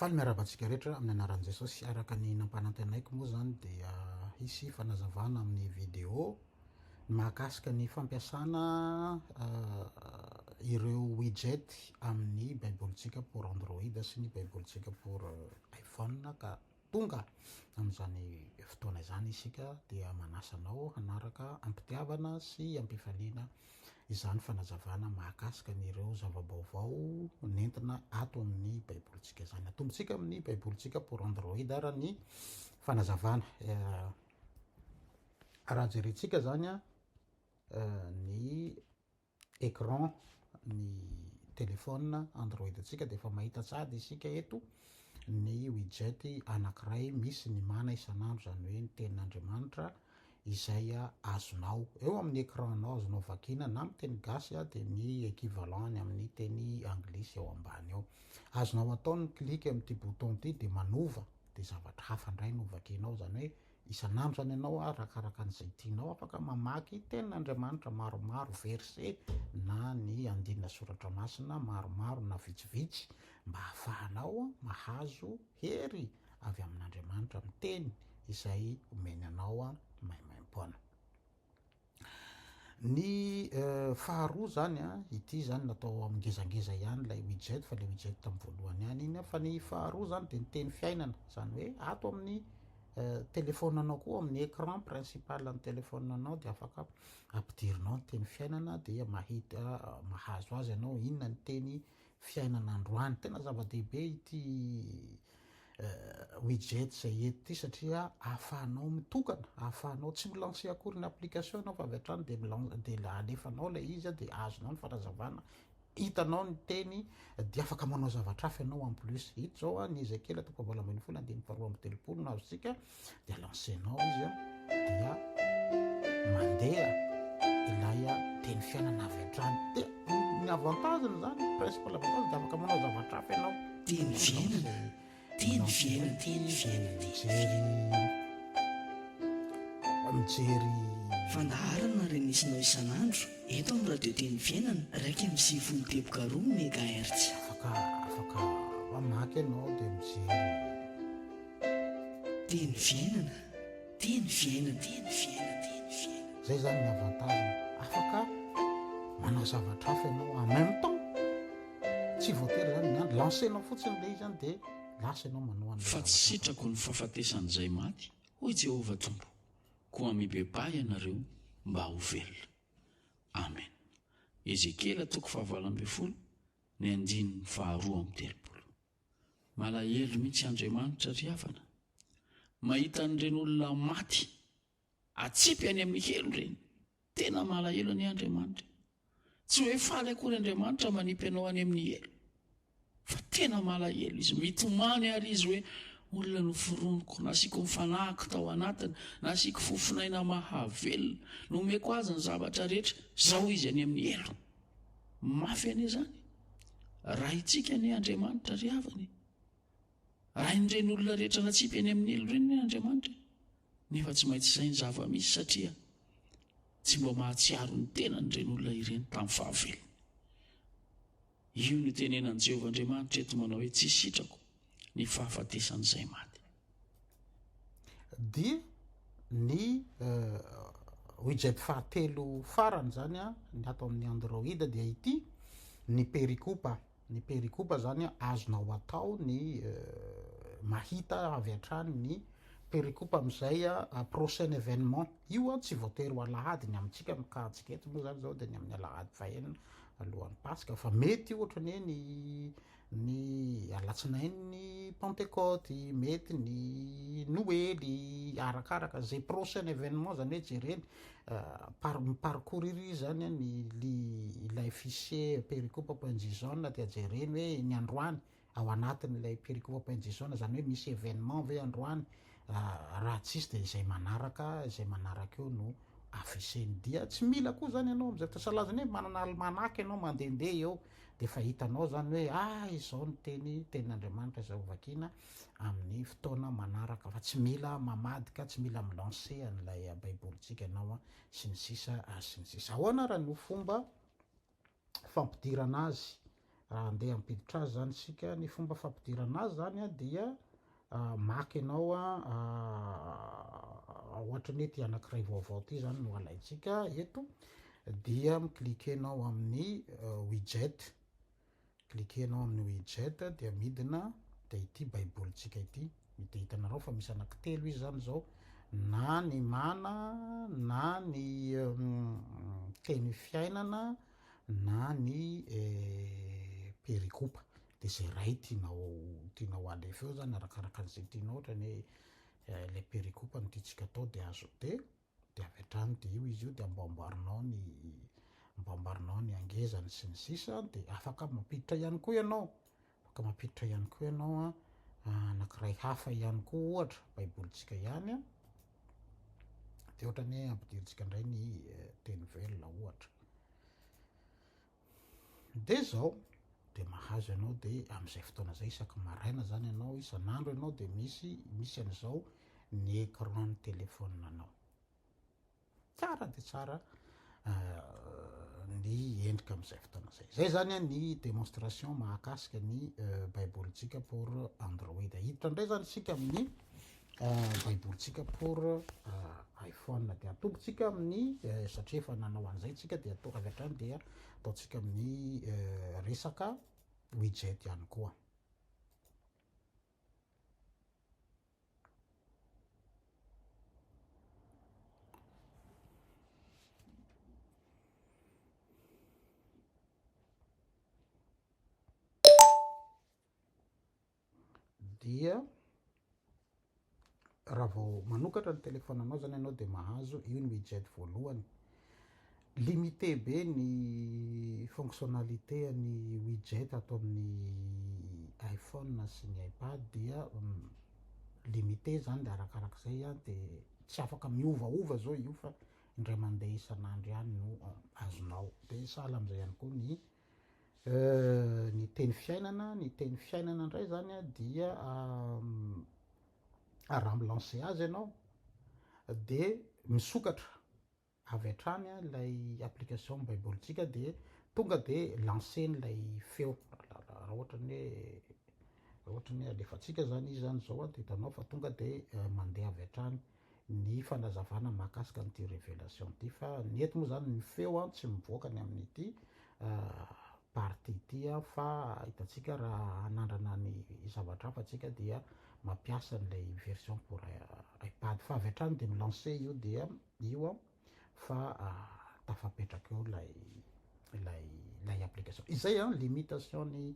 Faly miarahaba antsika rehetra amin'ny anaran'i Jesosy. Araka ny nampanantenaiko moa izany dia hisy fanazavana amin'ny vidéo mahakasika ny fampiasana ireo widget amin'ny baibolintsika pour Android sy ny baibolintsika pour iPhone ka Tonga amin'izany fotoana izany isika dia manasa anao hanaraka am-pitiavana sy am-pifaliana izany fanazavana mahakasika an'ireo zava-baovao nentina ato amin'ny Baibolintsika izany. Atombontsika amin'ny Baibolintsika pour Android ary ny fanazavana. Raha jerentsika izany ny écran ny téléphone android antsika dia efa mahita sady isika eto ny widget anankiray misy ny mana isan'andro izany hoe ny tenin'Andriamanitra izay azonao eo amin'ny écran nao azonao vakiana na amin'ny teny gasy dia ny équivalent ny amin'ny teny anglisy eo ambany eo azonao atao ny clique amin'ity bouton ity dia manova dia zavatra hafa indray no vakianao izany hoe Isan'andro zany ianao arakaraka an'izay tianao afaka mamaky tenin'Andriamanitra maromaro, verset na ny andinina soratra masina maromaro na vitsivitsy mba hahafahanao mahazo hery avy amin'Andriamanitra miteny izay omeny anao maimaim-poana. Ny faharoa zany an, ity zany natao amin'ny ngezangeza ihany ilay widget fa ilay widget tamin'ny voalohany ihany iny fa ny faharoa zany dia ny teny fiainana zany hoe ato amin'ny téléphone anao koa amin'ny écran principal an'ny téléphone anao dia afaka ampidirinao ny teny fiainana dia mahita mahazo azy ianao inona ny teny fiainana androany. Tena zava-dehibe ity widget izay eto ity satria ahafahanao mitokana, ahafahanao tsy mi-lancer akory ny application ianao fa avy hatrany dia dia alefanao ilay izy dia azonao ny fanazavana, hitanao ny teny dia afaka manao zavatra hafa ianao en plus. Ito izao ny ezekela toko fahavalo ambin'ny folo andininy faharoa amby telopolo no azontsika dia lancenao izy a dia mandeha ilay a teny fiainana avy an-trany dia ny avantage-ny zany principal avantage dia afaka manao zavatra hafa ianao teny fiainana teny fiainana teny fiainana mijery mijery fandaharana ary misy nao isan'andro eto amin'ny radio teny fiainana raika amin'ny sivifolo teboka roa megahertz afaka afaka mamaky ianao dia mijery Teny fiainana, teny fiainana, teny fiainana, teny fiainana. Izay izany ny avantage-ny. Afaka manao zavatra hafa ianao en même temps. Tsy voatery izany ny andro. Lancer-nao fotsiny ilay izy izany dia lasa ianao manao an'ilay zavatra hafa. Fa tsy sitrako ny fahafatesan'izay maty, hoy Jehovah Tompo, koa mibebaha ianareo mba ho velona. Amen. Ezekiela toko fahavalo ambin'ny folo, ny andininy faharoa amby telopolo. Malahelo mihitsy Andriamanitra ry havana mahita an'ireny olona maty atsipy any amin'ny helo ireny. Tena malahelo anie Andriamanitra e! Tsy hoe faly akory Andriamanitra manipy anao any amin'ny helo fa tena malahelo Izy. Mitomany àry Izy hoe, Olona noforoniko, nasiako ny fanahiko tao anatiny, nasiako fofon'aina mahavelona, nomeko azy ny zavatra rehetra, izao izy any amin'ny helo. Mafy anie zany. Raintsika anie Andriamanitra ry havana e. Rain'ireny olona rehetra natsipy eny amin'ny helo ireny anie Andriamanitra e. Nefa tsy maintsy izay ny zava-misy satria tsy mba mahatsiaro ny tenany ireny olona ireny tamin'ny fahavelony. Io no tenenan'i Jehovah Andriamanitra eto manao hoe tsy sitrako ny fahafatesan'izay maty. Dia ny widget fahatelo farany izany an, ny ato amin'ny Android dia ity, ny perikopa. Ny perikopa izany an, azonao atao ny mahita avy hatrany ny perikopa amin'izay an, prochain événement. Io an tsy voatery ho alahady, ny amintsika amin'ny cas antsika eto moa izany izao dia ny amin'ny alahady fahenina alohan'ny paska, fa mety ohatra ny hoe ny Ny alatsinainy ny pantekoty, mety ny noely, arakaraka ze prochain événement zany hoe jereny par mi-parcours iry izy zany an, ny li ilay fichier pericope point json dia jereny hoe ny androany ao anatin'ilay pericope point json zany hoe misy événement ve androany, raha tsisy dia izay manaraka izay manaraka eo no afficher-ny, dia tsy mila koa zany ianao am'zay, fa sahala zany hoe manana almanaka ianao mandehandeha eo Dia efa hitanao izany hoe ah izao ny teny, tenin'Andriamanitra izay hovakina amin'ny fotoana manaraka fa tsy mila mamadika, tsy mila mi-lancer an'ilay baibolintsika ianao an, sy ny sisa ary sy ny sisa. Ahoana ary no fomba fampidirana azy raha handeha hampiditra azy izany isika? Ny fomba fampidirana azy izany dia Maka ianao an, ohatra ny hoe ity anankiray vaovao ity izany no alaintsika eto, dia mi-cliquer ianao amin'ny widget, cliquer ianao amin'ny widget dia midina dia ity baibolintsika ity, dia hitanareo fa misy anankitelo izy izany izao, na ny mana, na ny teny fiainana, na ny perikopa. de ze iray tianao tianao alefa eo zany arakaraka an'izay tianao ohatra ny hoe le pericope no tiantsika atao de azo de de avy hatrany de io izy io de amboamboarinao ny amboamboarinao ny angezany sy ny sisa de afaka mampiditra ihany koa ianao afaka mampiditra ihany koa ianao a anakiray hafa ihany koa ohatra baibolintsika ihany a de ohatra ny hoe ampidirintsika indray ny teny velona ohatra Dia izao, dia mahazo ianao dia amin'izay fotoana izay isaky maraina izany ianao, isan'andro ianao dia misy misy an'izao ny écran-n'ny telefaoninanao. Tsara dia tsara ny endrika amin'izay fotoana izay. Izay izany ny démonstration mahakasika ny Baibolintsika pour Android. Hiditra indray izany isika amin'ny Eh, baiboly tsika pour eh, iphone dia atombo tsika amin'ny eh, satria efa nanao an'izay tsika dia atao avy hatrany dia ataontsika amin'ny resaka widget ihany koa dia raha vao manokatra ny téléphone anao zany ianao dia mahazo io ny widget voalohany limité be ny fonctionnalité ny widget ato amin'ny iPhone sy ny iPad dia mm, limité zany dia arakaraka izay an dia tsy afaka miovaova zao io fa indray mandeha isan'andro ihany no azonao dia sahala amin'izay ihany koa ny Ny teny fiainana, ny teny fiainana indray izany an dia raha mi-lancer azy ianao dia misokatra avy hatrany ilay application ny baibolintsika dia tonga dia lancer-ny ilay feo, raha ohatra ny hoe, raha ohatra ny hoe alefantsika izany izy izany izao an dia hitanao fa tonga dia mandeha avy hatrany. ny fanazavana mahakasika an'ity révélation ity fa ny eto moa zany ny feo an tsy mivoaka ny amin'ity partie ity fa hitantsika raha hanandrana ny zavatra hafa tsika dia mampiasa an'ilay version pour iPad fa avy hatrany dia mi-lancer io dia io an fa tafapetraka eo lay lay lay application izay an limitation ny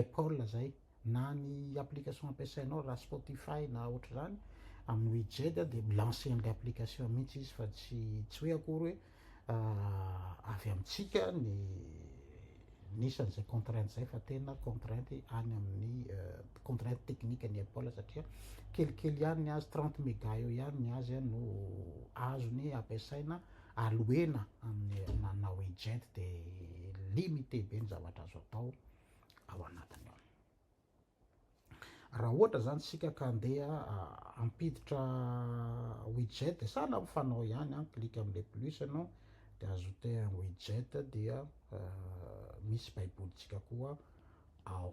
apple zay na ny application ampiasainao raha spotify na ohatr'izany amin'ny widget dia milancer an'ilay application mihitsy izy fa tsy tsy hoe akory hoe avy amintsika ny Nisy an'izay contrainte izay fa tena contrainte any amin'ny contrainte technique ny Apple satria kelikely ihany ny azy, trente mega eo ihany ny azy no azony ampiasaina aloena amin'ny nanao agent dia limité be ny zavatra azo atao ao anatiny ao. Raha ohatra izany isika ka handeha hampiditra widget dia sahala amin'ny fanao ihany, clique amin'ilay plus ianao dia ajouter un widget dia misy baibolintsika koa ao.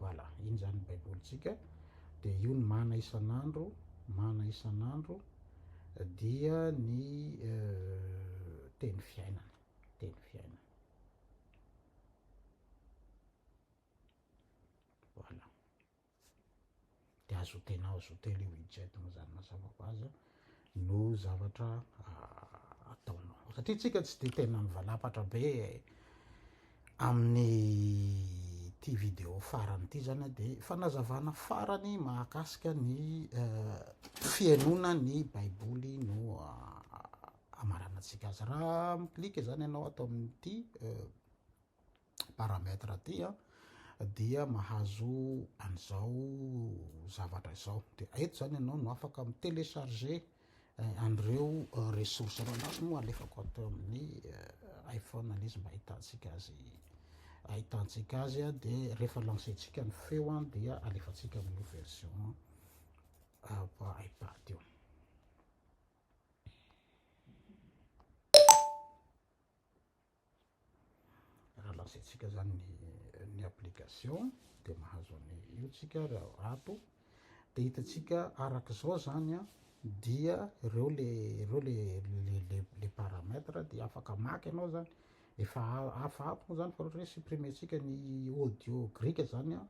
Voilà, iny izany ny baibolintsika dia io ny mana isan'andro, mana isan'andro. dia ny teny fiainana teny fiainana voilà de azo tena azo telo io widget mazany mazava ho azy no zavatra ataonao satria tsika tsy de tena mivalapatra be Amin'ity vidéo farany ity zany dia fanazavana farany mahakasika ny fihainoana ny baiboly no hamaranantsika azy. Raha mi-clique zany ianao ato amin'ity paramètre ity an, dia mahazo an'izao zavatra izao, dia eto zany ianao no afaka mi-télécharger An'ireo ressources ranomasina moa alefako ato amin'ny iPhone an'izy mba ahitantsika azy ahitantsika azy dia rehefa lancer-tsika ny feo dia alefantsika amin'io version iPad io Raha lazaintsika zany ny application dia mahazo an'i io tsika raha ato dia hitantsika araka izao zany a dia ireo le ireo le le le paramètre dia afaka maka ianao zany efa afa ato moa zany fa ohatra hoe supprimer-tsika ny audio grika zany a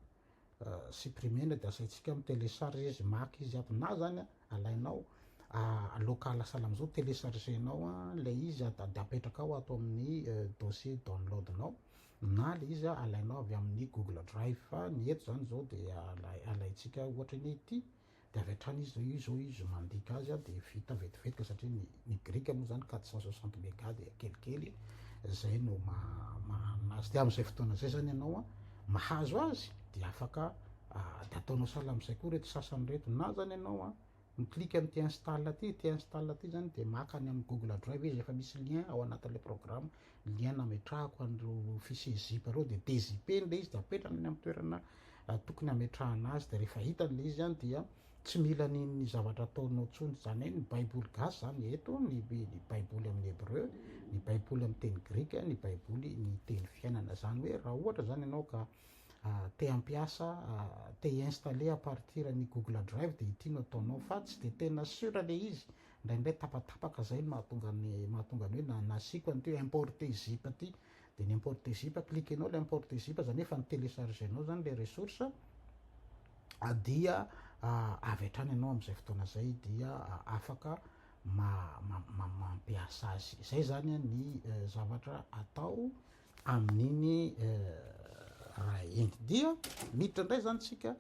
supprimer ny de asaintsika mi telecharge izy maka izy aby na zany alainao local salam zao telecharge nao ilay izy de apetrakao ato amin'ny dossier download nao na le izy alainao avy amin'ny google drive fa ny eto zany zao de alaintsika ohatra ny ity Dia avy hatrany izy izao, io izao izy mandika azy dia vita vetivety ka satria ny ny grika moa izany quatre cent soixante mega dia kelikely, izay no mahanina azy. Dia amin'izay fotoana izay izany ianao an, mahazo azy dia afaka dia ataonao sahala amin'izay koa ireto sasany ireto. Na izany ianao an, mi-clique amin'ity install ity, ity install ity izany dia maka any amin'ny google drive izy, efa misy lien ao anatin'ilay programme, Ny ahy nametrahako an'ireo fiches zip ireo dia dezipeny ilay izy dia apetrany any amin'ny toerana tokony hametrahana azy dia rehefa hitany ilay izy an dia tsy mila ny ny zavatra ataonao tsony zany hoe ny baiboly gasy zany eto ny ny baiboly amin'ny hebreu ny baiboly amin'ny teny grika ny baiboly ny teny fiainana zany hoe raha ohatra zany ianao ka te hampiasa te installer à partir ny google drive dia ity no ataonao fa tsy dia tena sur ilay izy Indraindray tapatapaka zay no mahatonga ny mahatonga ny hoe nasiako an'ity importer zip ity de ny importer zip cliquenao le importer zip zany hoe efa ni-telechargenao zany le ressource dia avy hatrany ianao amin'izay fotoana zay dia afaka mampiasa azy. Izay zany ny zavatra atao amin'iny raha iny. Dia miditra indray zany tsika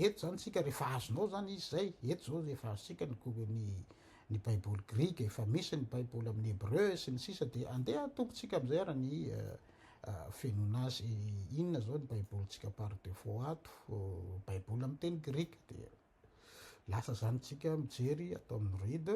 Eto izany isika rehefa azonao izany izy izay, eto izao rehefa azontsika ny ny baiboly grika, efa misy ny baiboly amin'ny hebreu sy ny sisa dia andeha atompontsika amin'izay ary ny fenoana azy inona izao ny baibolintsika par defaut ato, baiboly amin'ny teny grika dia lasa izany isika mijery ato amin'ny read.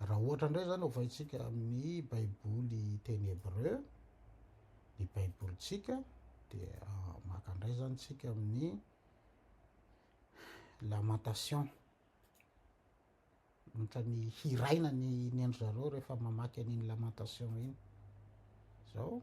Raha ohatra indray izany ovaintsika amin'ny Baiboly teny Hebreo, ny Baibolintsika, dia ah, maka indray izany tsika amin'ny Lamentation. Ohatra ny hiraina ny ny an-dry zareo rehefa mamaky an'iny Lamentation iny. Izao,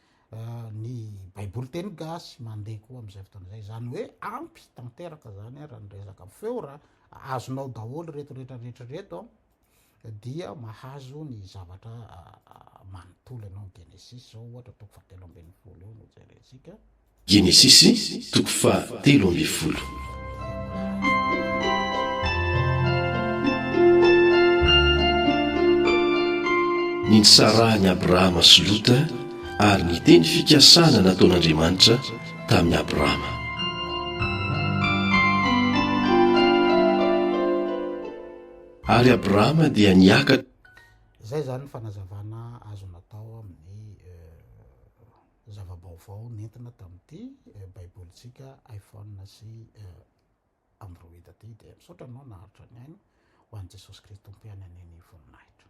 ah, ny baiboly teny gasy mandeha koa amin'izay fotoana izay izany hoe ampy tanteraka zany a raha ny resaka feo raha azonao daholo reto rehetra rehetra reto a dia mahazo ny zavatra ah, ah, manontolo ianao ny genesis zao ohatra toko fahatelo ambin'ny folo eo no jerentsika Genesisy toko faha telo ambin'ny folo. Nitsarahan'i Abrahama sy Lota ary ny teny fikasana nataon'Andriamanitra tamin'i Abrahama. Ary Abrahama dia niakatra. Izay izany ny fanazavana azo natao amin'ny. zava-baovao nentina tamin'ity baibolintsika iPhone sy Android ity dia misaotra anao naharitra ny aina ho an'i Jesosy Kristy Tompo ihany anie ny voninahitra.